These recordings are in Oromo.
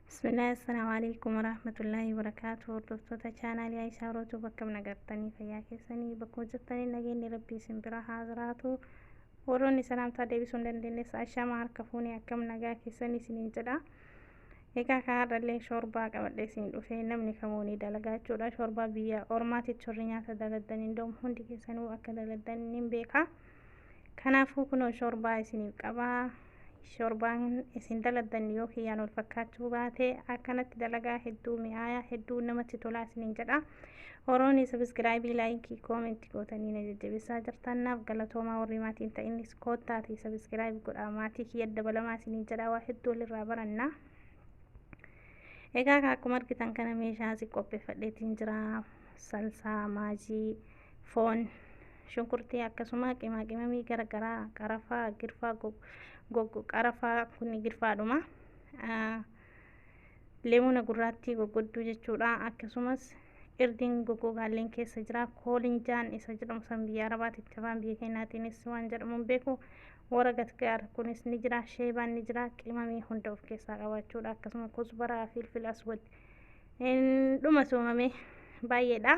Bismillah assalaamu alaikum warahmatullahi wabarakaatu hordoftoota chaanaalii Aishaa Rootuu bakka nagartanii fayyaa keessanii bakkuma jirtanii nageenyi rabbii isin bira haa jiraatu warroonni salaamtaa deebisuu hin dandeenyes ashamaa harka fuunee akkam nagaa keessanii isiniin jedha egaa kan har'allee shoorbaa qabadhee isin dhufee namni kamuu ni dalagaa jechuudha shoorbaa biyya ormaatitti shorri nyaata daladan indoom hundi keessanuu akka daladan nin beekaa Kanaafuu kunoo shoorbaa isiniif qabaa. Shoorbaan isin daladdan yoo kiyyaan wal fakkaachuu baate akkanatti dalagaa hedduu mi'aayaa hedduu namatti tolaa isiniin jedha. Horooni sabiskiraayibii laayikii koomentii gootanii na jajjabeessaa jirtan naaf galatoomaa warri maatii hin ta'innis koottaatii sabiskiraayib godhaa maatii kiyya dabalamaa isiniin jedha waa hedduu walirraa baranna. Egaa akkuma argitan kana meeshaa si qopheeffadheetiin jira salsaa maajii. foon, shunkurtii akkasuma qimaa qimamii gara garaa qarafaa, girfaa gog- gog- qarafaa kun girfaadhuma. Ah, Leemuna gurraattii goggodduu jechuudha. Akkasumas irdiin goggogaalleen keessa jira. Koolinjaan isa jedhamu san biyya Arabaatitti afaan biyya keenyaatiinis waan jedhamu hin beeku. Wara gatgaar kunis ni jira. Sheebaan ni jira. Qimamii hunda of keessaa qabaachuudha. Akkasuma kusbaraa, filfil aswad. Hin dhuma soomamee baay'eedha.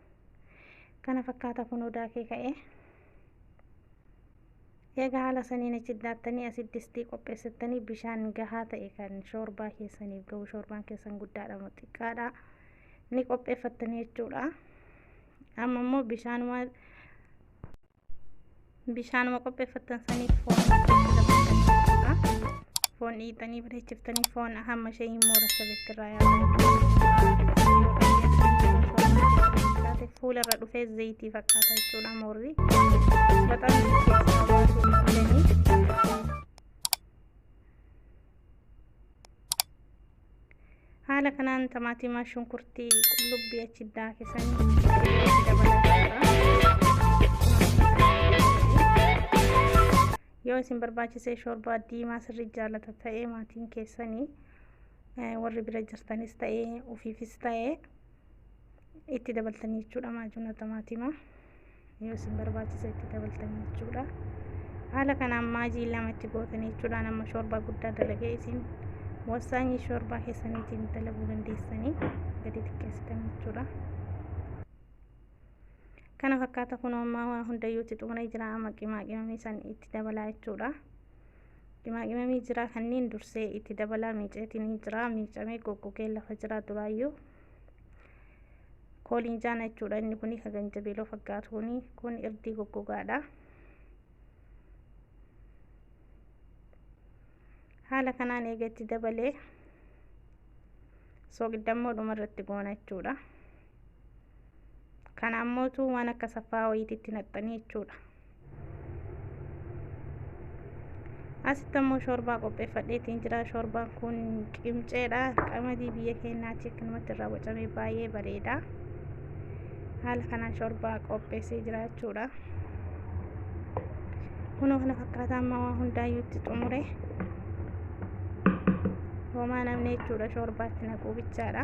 kana fakkaata kun odaa kee ka'ee eega haala saniin achi daattanii asi distii qopheessattanii bishaan gahaa ta'e kan shoorbaa keessaniif ga'u shoorbaan keessan guddaadha moo xiqqaadha ni qopheeffattanii jechuudha amma immoo bishaanuma bishaanuma qopheeffattan saniif foon foon dhiitanii bareechiftanii foon hamma ishee hin moorasa betti irraa yaabaa fuula irra dhufee zayitii fakkaata jechuudha moorri baxaan keessaa baasuu qabdanii Haala kanaan tamaatimaa shunkurtii qullubbii achi daakisan yoo isin barbaachisee shoorbaa diimaa sirrii jaalata ta'ee maatiin keessanii warri bira jirtanis ta'ee ofiifis ta'ee itti dabaltanii jechuudha maajuuna tamaatimaa yoo isin barbaachisa itti dabaltanii jechuudha haala kanaan maajii lama itti gootanii jechuudha nama shoorbaa guddaa dalagee isin wasaanyii shoorbaa keessaniitiin dalaguu dandeessanii gadi xiqqeessitan jechuudha kana fakkaata kun ammaa waa hundayyuutti xumuree jira amma qimaa qimamii san itti dabalaa jechuudha Qimaaqimamii jiraa kanneen dursee itti dabalaa miiceetiin ni jiraa miicamee goggogee lafa jiraa duraayyuu kooliin jaana jechuudha inni kuni ka ganjabeeloo fakkaatu kuni kun irdii goggogaadha. Haala kanaan eega itti dabalee sooqiddammoo dhuma irratti goona jechuudha. Kana ammootu waan akka saffaa wayiitti itti naqxanii jechuudha. asitti ammoo shoorbaa qopheeffadheetiin jira shoorbaan kun qimceedha qamadii biyya keenyaa chiknumatti irraa bocamee baay'ee bareeda haala kanaan shoorbaa qopheessee jira jechuudha kunoo kana fakkaataa amma waa hundaayyuutti xumure homaa namni jechuudha shoorbaatti naquu bichaadha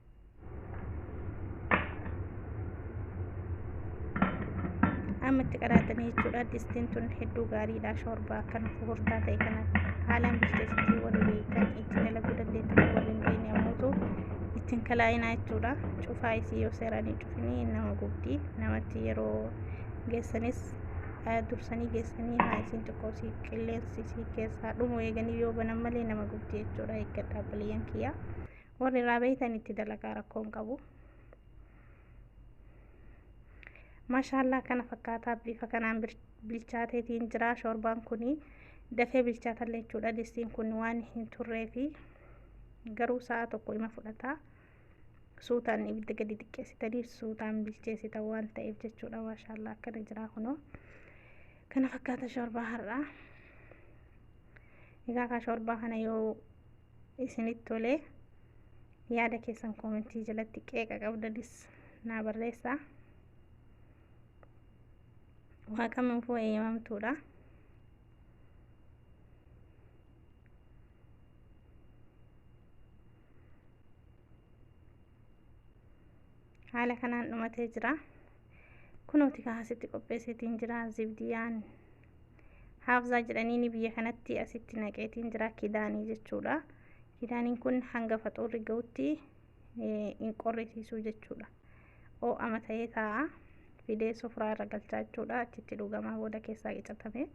amma itti qadaadanii jechuudha distiin tun hedduu gaariidha shoorbaa kan fufurtaa ta'e kana haalaan bilcheessitii warri beekan itti dalaguu dandeettan warri hin beekne ammoo ittiin kalaa'inaa jechuudha cufaa isii yoo seeraanii cufinii nama gubdi namatti yeroo geessanis dursanii geessanii haa isiin xiqqoo sii qilleensi sii keessaa dhumu eeganii yoo banan malee nama gubdi jechuudha eeggadhaa baliyyan kiyyaa Warri irraa beeytan itti dalagaa rakkoo hin qabu. Maashaallaa kana fakkaataa bifa kanaan bilchaateetiin jira shoorbaan kuni dafee bilchaatallee jechuudha distiin kun waan hin turree fi garuu sa'a tokko ima fudhata suutaan ibidda gadi xiqqeessitanii suutaan bilcheessitan waan ta'eef jechuudha maashaallaa akkana jira kunoo kana fakkaata shoorbaa har'aa egaa kaa shoorbaa kana yoo isinitti tolee yaada keessan koomentii jalatti qeeqa qabdanis naa barreessaa waa kamiifuu eeyyamamtuudha haala kanaan dhumatee jira kunooti kaasitti qopheesseetiin jira zibdiyaan haafzaa jedhaniini biyya kanatti asitti naqeetiin jira kidaanii jechuudha kidaaniin kun hanga faxuurri ga'utti hin qorrisiisuu jechuudha oo'ama ta'ee taa'a fidee sofraa irra galchaa jechuudha achitti dhugamaa booda keessaa qicatame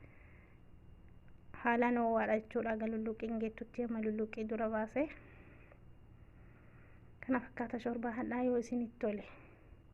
haalaan oo'aadha jechuudha aga lulluuqiin geettutti amma lulluuqii dura baase kana fakkaata shorbaa hadhaa yoo isinitti tole